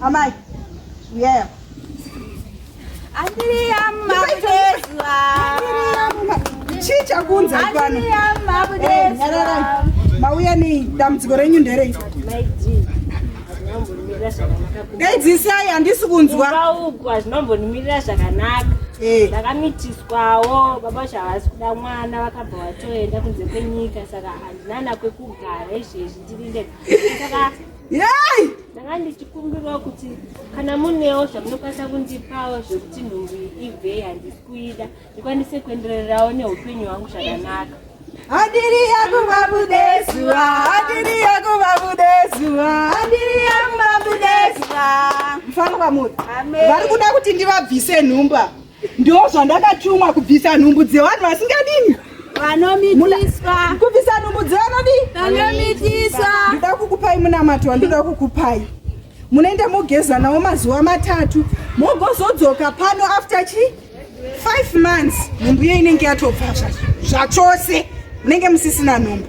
Amai, uyaya. Andiri amma kudezwa. Chii chakunza pano? Andiri amma kudezwa. Mauya nei? Dambudziko renyu nderei? Daidzisai handisi kunzwa. Ukaugwa hazvinombonimirira zvakanaka. Eh. ndakamitiswawo baba vacho havasi kuda mwana vakabva vatoenda kunze kwenyika saka handinana kwekugara izvezvi ndiri ndega saka yei ndanga ndichikumbirawo kuti kana munewo zvamunokwanisa kundipawo zvekuti nhumbu ibvei handisi kuida ndikwanise kuendererawo neupenyu hwangu zvakanaka Adiri yakuba budeswa, adiri yakuba budeswa, adiri yakuba budeswa. Mfana wa muti. Amen. Vari kuda kuti ndivabvise nhumba. Ndiwo zvandakatumwa kubvisa nhumbu dzevanhu vasingadini vanomitiswa kubvisa nhumbu dzevanodii vanomitiswa ndida kukupai munamato wandida kukupai munoenda mogeza nawo mazuva matatu mogozodzoka pano after chi five months nhumbu iyo inenge yatobva zvachose munenge musisina nhumbu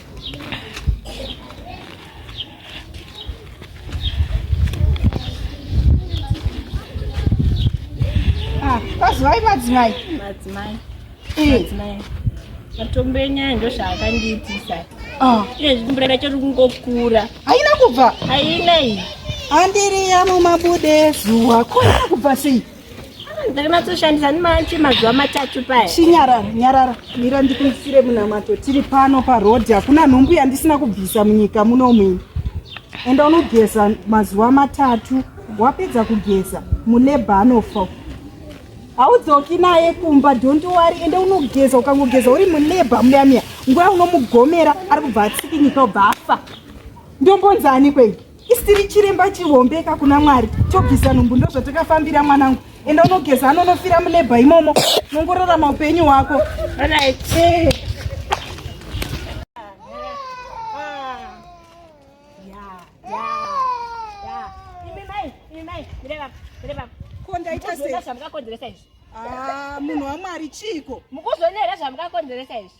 madzimai ah, madzimai madzimai eh. madzimai matombo enyaya ndo zvaakandiitisa ah. iye zvikumburera chiri kungokura haina kubva haina iyi andiriya mumabude zuwa koina kubva sei ndakanatsoshandisa ndimache mazuva matatu paya chinyarara nyarara mira ndikuisire munamato tiri pano parodi hakuna nhumbu yandisina kubvisa munyika muno muini enda unogeza mazuva matatu wapedza kugeza mulebha anofa haudzoki naye kumba don't worry ende unogeza ukangogeza uri mulebha muyamiya nguva unomugomera ari kubva atsikinyika ubva afa ndombonzani kweyi isiri chiremba chihombeka kuna mwari chobvisa nhumbu ndozvatakafambira mwanangu enda unogeza anonofira mulebha imomo nongorarama upenyu hwako kondaitaakakonzeresa izvi ah, munhu wamwari chiiko mukuzoneera zvamukakonzeresa izvi